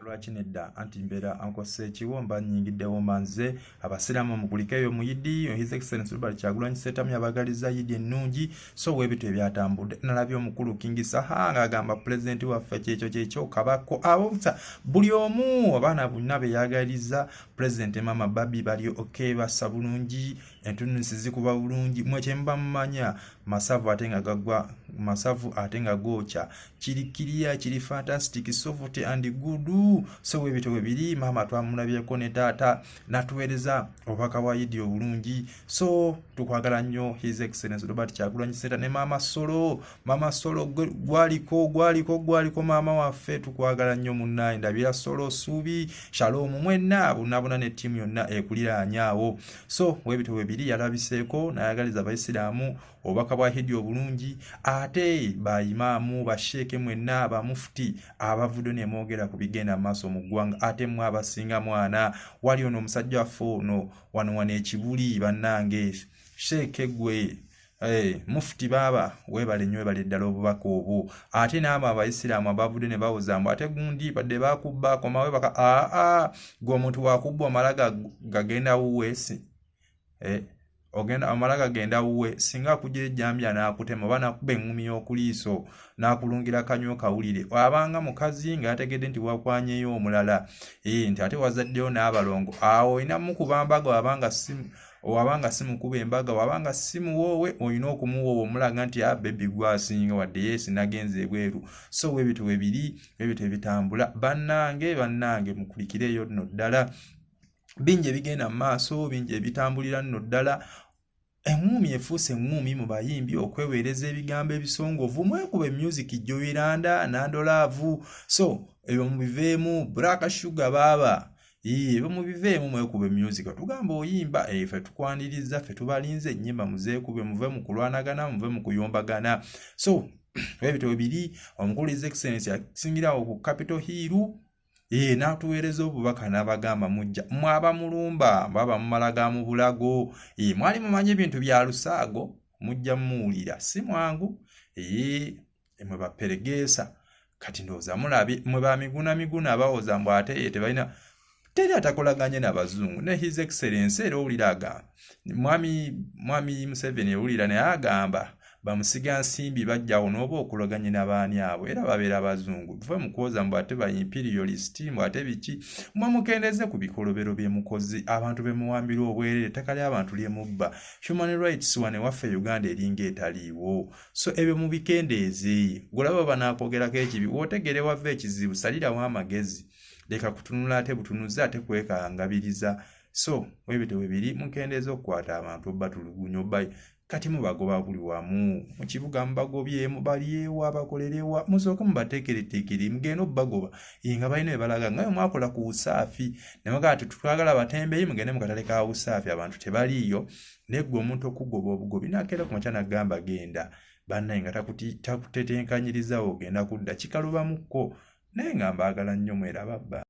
lwaki nedda anti mbeera ankosa ekiwo mba nyingiddewo manze abasiraamu mugulikeyo muyidi his excellence robert kyagulanyi setamu yabagaliza yidi ennungi so webito ebyatambudde nalabye omukulu kingi saha ng'agamba pulezidenti waffe kyekyo kyekyo kabako abobsa buli omu abaana bonna beyagaliza pulezidenti maama babi bali ok bassa bulungi entunusi zikuba bulungi mwe kyemba mumanya masavu ate nga gagwa masavu ate nga gookya kiri kiriya kiri fantastic soft and good so webito webiri maama twamulabyeko ne taata natuweereza obubaka bwa idi obulungi so tukwagala nnyo his excellence robert kyagulanyi senta ne maama solo maama solo gwaliko gwaliko gwaliko maama waffe tukwagala nnyo munnaye ndabira solo suubi shalomu mwenna bunabuna ne ttiimu yonna ekuliraanyaawo so webito webiri yalabiseeko nayagaliza abaisiraamu obubaka bwa hidi obulungi ate bayimaamu basheeke mwenna abamufuti abavudde nemwogera ku bigenda maaso mu ggwanga ate mwe abasinga mwana wali ono omusajja waffe ono wano wano ekibuli bannange sheeke gwe Hey, eh, mufuti baaba webale nyo webale ddala obubaka obwo ate naabo abaisiraamu abavudde ne bawoza mbu ate gundi badde bakubba akomawe baka aa gwe omuntu wakubba omala gagenda wuweesi eh, ogenda amala gagenda wuwe singa akuja ejambya n'akutema oba n'akuba eŋŋumi y'okuliiso n'akulungira kanywa okawulire abanga mukazi nga yategedde nti wakwanyeyo omulala ee eh, nti ate wazaddeyo n'abalongo awo olina mukuba mbaga wabanga si wabanga si mukuba embaga wabanga si muwoowe olina okumuwoowa omulaga nti a ah, bebi gwasinga wadde yeesi nagenza ebweru so webito webiri webito ebitambula bannange bannange mukulikireeyo nno ddala bingi ebigenda mu maaso bingi ebitambulira nno ddala eŋŋuumi efuuse eŋŋuumi mu bayimbi okweweereza ebigambo ebisongovu mwekuba emyuziki joiranda nandolaavu so ebyo mubiveemu braka shuga baaba ebyo mubiveemu mwekuba emyuzika tugamba oyimba eh, fe tukwaniriza fe tubalinze ennyimba muzeekube muve mu kulwanagana muve mu kuyombagana so ebitabo biri omukulu is excellence asingira awo ku capital hiiru ee n'atuweereza obubaka n'abagamba mujja mwaba mulumba mwaba mumala ga mu bulago ee mwali mumanyi ebintu bya lusaago mujja muwulira si mwangu ee mwe baperegeesa kati ndowooza mulabye mwe ba miguna miguna bawoza mbu ate ye tebalina teri atakolaganye na bazungu ne his excellence era owulira agamba mwami mwami museveni ewulira naye agamba bamusiga nsimbi bajjawo n'oba okuloganye na baani abo era babeera bazungu tuve mu kwoza mbu ate ba imperialist mbu ate biki mwe mukendeze ku bikolobero bye mukozi abantu be muwambira obwerere ettaka ly'abantu lye mubba human rights wane waffe uganda eringa etaliiwo so ebyo mubikendeeze gulaba banaakogerako ekibi wootegere wava ekizibu salirawo amagezi leka kutunula ate butunuzi ate kwekangabiriza so webyo tewebiri mukendeeza okukwata abantu obatulugunya oba kati mubagoba buli wamu mu kibuga mubagobyemu balyewa bakolerewa musooke mubateekereteekere mugenda obubagoba ye nga balina ebalaga nga yo mwakola ku usaafi nemagaa ti twagala batembeyi mugende mukatale ka usaafi abantu tebaliiyo naye gwe omuntu okugoba obugobi nakeera ku makya nagamba genda bannaye nga takutetenkanyirizawo ogenda kudda kikalubamuko naye nga mbaagala nnyo mwerababba